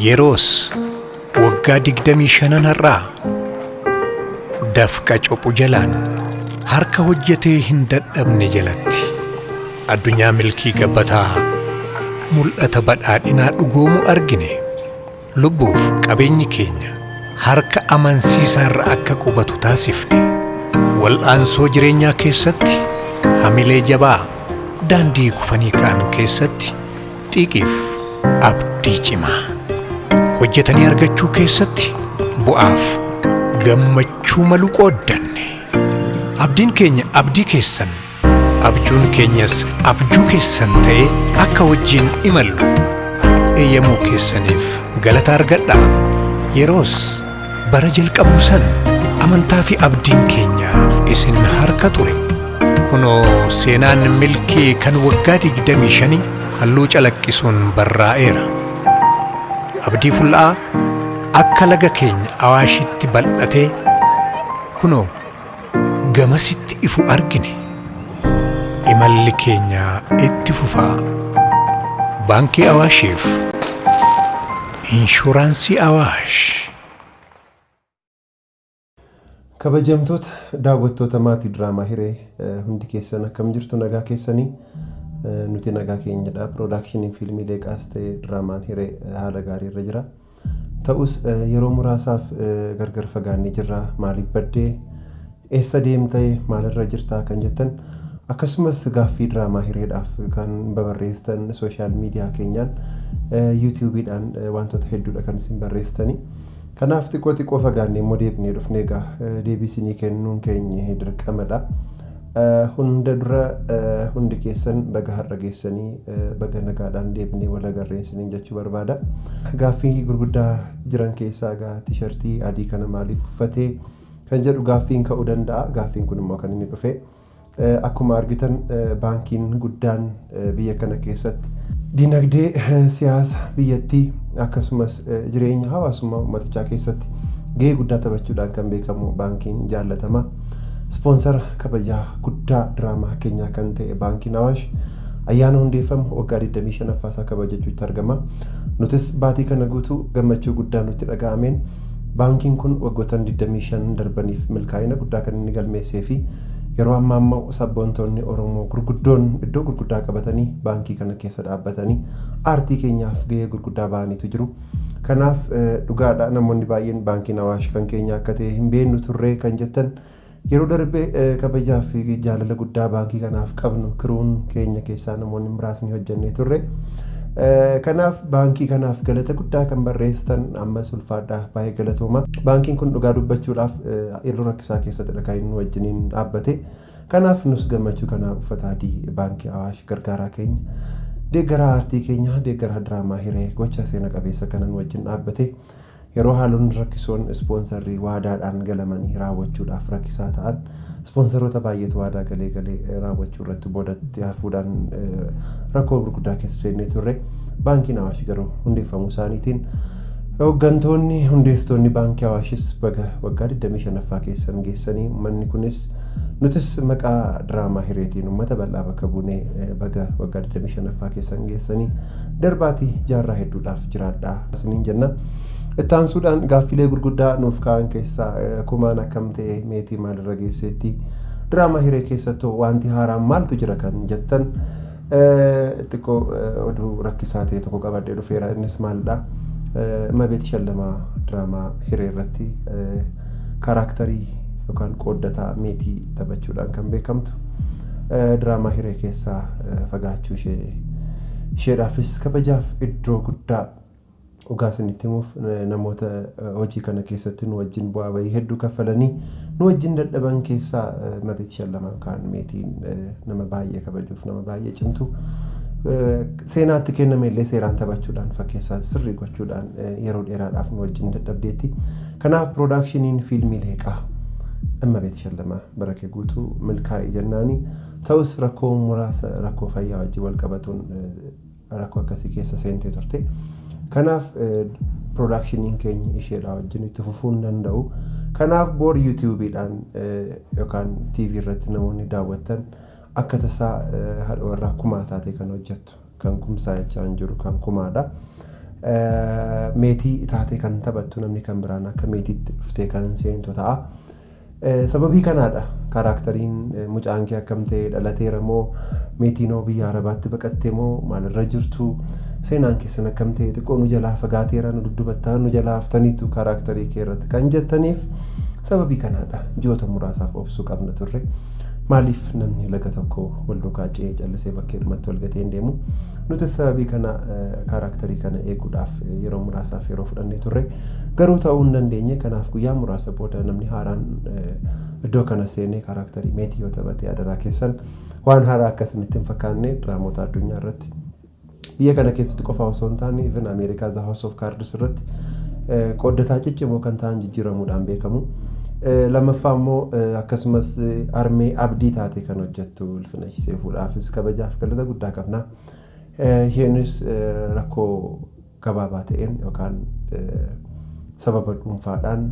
Yeroos waggaa digdamii shanan har'aa dafqa cophu jalaan harka hojjetee hin dadhabne jalatti addunyaa milkii gabbataa mul'ata badhaadhinaa dhugoomu argine. Lubbuuf qabeenyi keenya harka amansiisaa irra akka qubatu taasifne wal'aansoo jireenyaa keessatti hamilee jabaa daandii kufanii ka'an keessatti xiiqiif abdii cimaa hojjetanii argachuu keessatti bu'aaf gammachuu malu qooddanne abdiin keenya abdii keessan Abjuun keenyas abjuu keessan ta'ee akka wajjin imallu eeyyamuu keessaniif galata argadha. Yeroos bara jalqabuu sana amantaa fi abdiin keenya isin harka ture. Kunoo seenaan milkii kan waggaa 25 halluu calaqqisuun barraa'eera. Abdii ful'aa akka laga keenya awaashitti bal'atee kunoo Gamasitti ifu argine. Imalli keenya itti fufaa. Baankii Awaashiif Inshuraansii Awaash. Kabajamtoota daawwattoota maatii diraamaa hiree hundi keessan akkam jirtu nagaa keessanii nuti nagaa keenyadha piroodaakshiniin fiilmii leeqaas ta'e diraamaan hiree haala gaarii irra jira. Ta'us yeroo muraasaaf gargar fagaannee jirra. Maaliif badde? Eessa deemta? Maalirra jirta? Kan jettan akkasumas gaaffii diraamaa hireedhaaf kan babarreessitan sooshaal miidiyaa keenyaan yuutuubiidhaan wantoota hedduudha kan isin barreessitanii. Kanaaf xiqqoo xiqqoo fagaannee immoo deebinee dhufnee egaa deebii isinii kennuun keenya dirqamadha. Hunda dura hundi keessan baga har'a geessanii baga nagaadhaan deebinee wal agarree isiniin jechuu barbaada. Gaaffii gurguddaa jiran keessaa egaa tishartii adii kana maaliif uffatee kan jedhu gaaffiin ka'uu danda'a. Gaaffiin kun immoo kan inni dhufe akkuma argitan baankiin guddaan biyya kana keessatti. Dinagdee, siyaasa biyyattii akkasumas jireenya hawaasummaa uummatichaa keessatti gahee guddaa taphachuudhaan kan beekamu baankiin jaallatamaa ispoonsara kabajaa guddaa diraamaa keenyaa kan ta'e baankiin Awaash ayyaana hundeeffamu waggaa 25ffaa isaa kabajachuutti argama. Nutis baatii kana guutuu gammachuu guddaa nutti dhaga'ameen baankiin kun waggoottan 25 darbaniif milkaa'ina guddaa kan inni galmeessee fi Yeroo ammaa immoo sabboontoonni Oromoo gurguddoon iddoo gurguddaa qabatanii baankii kana keessa dhaabbatanii aartii keenyaaf gahee gurguddaa bahaniitu jiru. Kanaaf dhugaadha namoonni baay'een baankiin Awaash kan keenya akka ta'e hin beeknu turree kan jettan yeroo darbe kabajaa fi jaalala guddaa baankii kanaaf qabnu kiruun keenya keessaa namoonni muraasni hojjannee turre. Kanaaf baankii kanaaf galata guddaa kan barreessitan ammas ulfaadhaa baay'ee galatooma. Baankiin kun dhugaa dubbachuudhaaf Yeroo rakkisaa keessatidha kan inni nu wajjiniin dhaabbate. Kanaaf nus gammachuu kanaan uffata adii Baankii Awaash gargaaraa keenya, deeggaraa aartii keenya, deeggaraa diraamaa hiree gochaa seena qabeessa kana nu wajjin dhaabbate yeroo haalonni rakkisoon ispoonsarrii waadaadhaan galamanii raawwachuudhaaf rakkisaa ta'an ispoonsaroota baay'eetu waadaa galee galee raawwachuu irratti boodatti hafuudhaan rakkoo gurguddaa keessa seennee turre. Baankiin Awaash garuu hundeeffamuu isaaniitiin Hooggantoonni hundeessitoonni Baankii Awaashis baga waggaa 25ffaa keessan geessanii ummanni kunis nutis maqaa diraamaa hireetiin ummata bal'aa bakka buunee baga waggaa 25ffaa keessan geessanii darbaati jaarraa hedduudhaaf jiraadhaa isiniin jenna. Itti aansuudhaan gaaffilee gurguddaa nuuf ka'an keessaa kumaan akkam ta'e meetii maalirra geesseetti diraamaa hiree keessattoo wanti haaraan maaltu jira kan jettan Xiqqo oduu rakkisaa ta'e tokko qabadhee dhufeera. Innis maalidha? Imabeet Shallamaa diraamaa hiree irratti karaaktarii yookaan qooddataa meetii taphachuudhaan kan beekamtu diraamaa hiree keessaa fagaachuu ishee isheedhaafis kabajaaf iddoo guddaa Dhugaa isinitti himuuf namoota hojii kana keessatti nu wajjin bu'aa bahii hedduu kaffalanii nu wajjin dadhaban keessaa Mabeet Shallamaa kaan meetiin nama baay'ee kabajuuf nama baay'ee cimtu seenaatti kenname illee seeraan taphachuudhaan fakkeessaa sirrii gochuudhaan yeroo dheeraadhaaf nu wajjin dadhabdeetti. Kanaaf piroodaakshiniin fiilmii leeqaa Mabeet Shallamaa bara kee guutuu milkaa'ii jennaani ta'us rakkoo muraasa rakkoo fayyaa wajjin wal qabatuun rakkoo akkasii keessa seentee turte. Kanaaf piroodaakshiniin keenya isheedhaa wajjin itti fufuu hin danda'u. Kanaaf boor yuutuubiidhaan yookaan TV irratti namoonni daawwattan akka tasaa haadha warraa kumaa taatee kan hojjettu kan kumsaa jechaa hin jiru kan kumaadha. Meetii taatee kan taphattu namni kan biraan akka meetiitti dhuftee kan seentu ta'a. Sababii kanaadha kaaraaktariin mucaan kee akkam ta'e dhalateera moo meetiinoo biyya arabaatti baqatte moo maalirra jirtu seenaan keessan akkam ta'e xiqqoo nu jalaa fagaateera nu duddubattaa nu jalaa haftaniitu kaaraaktarii kee irratti kan jettaniif sababii kanaadha ji'oota muraasaaf obsuu qabna turre maaliif namni laga tokko wal duukaa ce'ee callisee bakkeedhumatti wal gatee hin deemu Nutis sababii kana kaaraaktarii kana eeguudhaaf yeroo muraasaaf yeroo fudhannee turre. Garuu ta'uu hin dandeenye. Kanaaf guyyaa muraasa booda namni haaraan iddoo kana seenee kaaraaktarii meetii yoo taphate adaraa keessan waan haaraa akka isinitti hin fakkaanne diraamoota addunyaa irratti biyya kana keessatti qofaa osoo hin taane even Ameerikaa The House of Cards irratti qooddataa ciccimoo kan ta'an jijjiiramuudhaan beekamu. Lammaffaa immoo akkasumas armee abdii taatee kan hojjettu Filachiseefuudhaafis kabajaaf galata guddaa qabna. Isheenis rakkoo gabaabaa ta'een yookaan sababa dhuunfaadhaan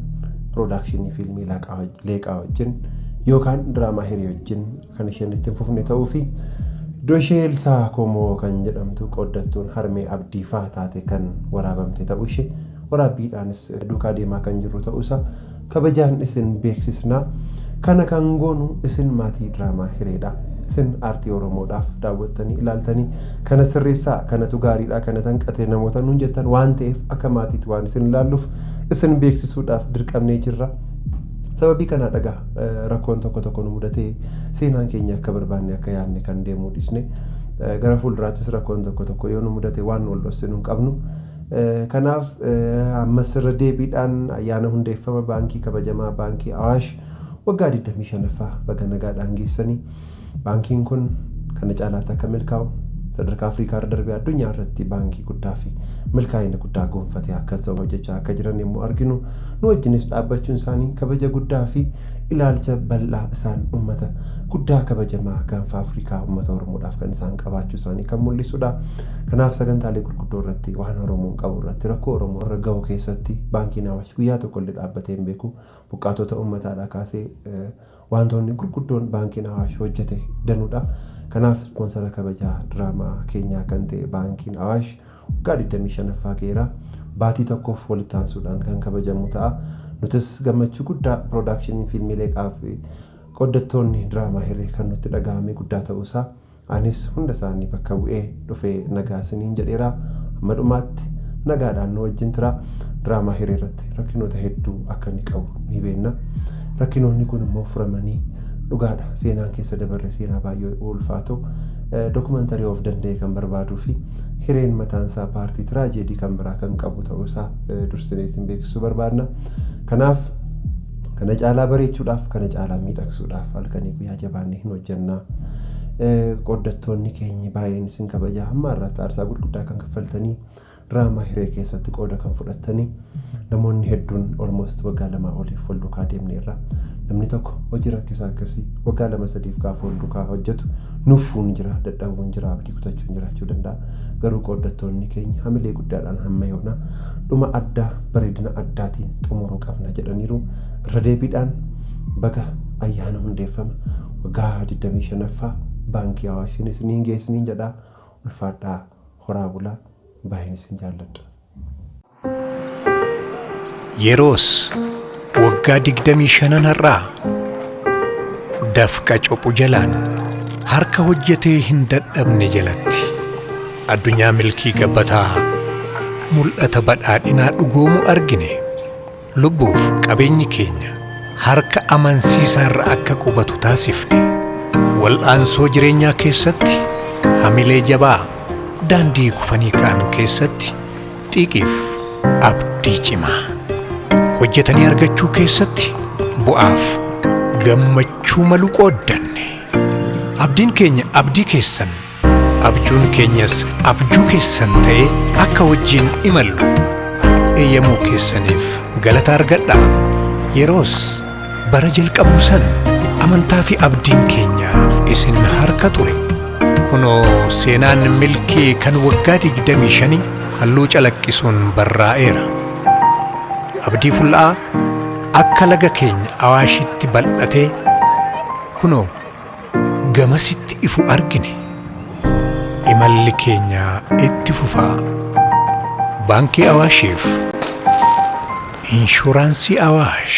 piroodakshinii fiilmii leeqaa wajjin yookaan diraamaa hirii wajjin kan isheen ittiin fufne ta'uu fi iddoo ishee Elsaa Komoo kan jedhamtu qooddattuun harmee abdii faa taate kan waraabamte ta'uu ishee waraabbiidhaanis duukaa deemaa kan jirru ta'uusaa Kabajaan isin beeksisna. Kana kan goonu isin maatii diraamaa Hireedha. Isin aartii Oromoodhaaf daawwattanii, ilaaltanii, kana sirreessaa, kanatu gaariidha, kanatu hanqate namoota nuun jettan waan ta'eef akka maatiitti waan isin ilaalluuf isin beeksisuudhaaf dirqamnee jirra. Sababii kanaa dhagaa rakkoon tokko tokko nu mudatee seenaan keenya akka barbaanne akka yaadne kan deemuu dhiisne gara fuulduraattis rakkoon tokko tokko yoo nu mudate waan wal dhossinu hin qabnu. Kanaaf ammas irra deebiidhaan ayyaana hundeeffama baankii kabajamaa baankii Awaash waggaa 25ffaa baga nagaadhaan geessanii baankiin kun kana caalaatti akka milkaa'u sadarkaa Afrikaa irra darbee addunyaa irratti baankii guddaa fi milkaa'ina guddaa goonfatee akka ta'u hojjechaa akka jiran yommuu arginu nu wajjinis dhaabbachuun isaanii kabaja guddaa fi ilaalcha bal'aa isaan ummata guddaa kabajamaa gaanfa Afrikaa ummata Oromoodhaaf kan isaan qabaachuu isaanii kan mul'isudha. Kanaaf sagantaalee gurguddoo irratti waan Oromoon qabu irratti rakkoo Oromoo irra gahu keessatti Baankiin Awaash guyyaa tokko illee dhaabbatee hin beeku. Buqqaatota uummataa dhaa kaasee waantoonni gurguddoon Baankiin Awaash hojjete danuu dha. Kanaaf ispoonsara kabajaa diraamaa keenyaa kan ta'e Baankiin Awaash waggaa 25ffaa ga'eera. Baatii tokkoof walitti aansuudhaan kan kabajamu ta'a. Nutis gammachuu guddaa pirodaakshiniin fiilmii Leeqaa fi qooddattoonni diraamaa Hiree kan nutti dhaga'ame guddaa ta'uu isaa Anis hunda isaanii bakka bu'ee dhufee nagaa isiniin jedheera. Hamma dhumaatti nagaadhaan nu wajjin turaa. Diraamaa Hiree irratti rakkinoota hedduu akka inni qabu ni beekna. Rakkinoonni kun immoo furamanii dhugaadha seenaan keessa dabarre seenaa baay'ee ulfaatoo dokumantarii of danda'e kan barbaaduu fi hireen mataan isaa paartii tiraajeedii kan biraa kan qabu ta'uu isaa dursinee isin beeksisuu barbaadna. Kanaaf Kana caalaa bareechuudhaaf, kana caalaa miidhagsuudhaaf halkanii guyyaa jabaannee hin hojjennaa. Qooddattoonni keenyi baay'een isin kabajaa hamma har'aatti aarsaa gurguddaa kan kaffaltanii diraamaa hiree keessatti qooda kan fudhattanii namoonni hedduun almost waggaa lamaa oliif wal duukaa deemneerra. Namni tokko hojii rakkisaa akkasii waggaa lama sadiif gaafa wal duukaa hojjetu nuffuun jira, dadhabuun jira, abdii kutachuun jiraachuu danda'a. Garuu qooddattoonni keenya hamilee guddaadhaan hamma yoonaa dhuma addaa bareedina addaatiin xumuruu qabna jedhaniiru. Irra deebiidhaan baga ayyaana hundeeffama waggaa 25ffaa Baankii Awaashiin isiniin ga'e isiniin jedha. Ulfaadhaa horaa bulaa baay'een isin jaalladha. Yeroos waggaa digdamii shanan har'aa dafqa cophu jalaan harka hojjetee hin dadhabne jalatti addunyaa milkii gabbataa mul'ata badhaadhinaa dhugoomu argine. Lubbuuf qabeenyi keenya harka amansiisaa irra akka qubatu taasifne. Wal'aansoo jireenyaa keessatti hamilee jabaa, daandii kufanii ka'an keessatti xiiqiif abdii cimaa. Hojjetanii argachuu keessatti bu'aaf gammachuu malu qooddanne. Abdiin keenya abdii keessan. Abjuun keenyas abjuu keessan ta'ee akka wajjin imallu eeyyamuu keessaniif galata argadha. Yeroos bara jalqabuu sana amantaa fi abdiin keenya isin harka ture. Kunoo seenaan milkii kan waggaa 25 halluu calaqqisuun barraa'eera. Abdii ful'aa akka laga keenya awaashitti bal'atee kunoo Gamasitti ifu argine. Imalli keenya itti fufa. Baankii Awaashiif Inshuraansii Awaash.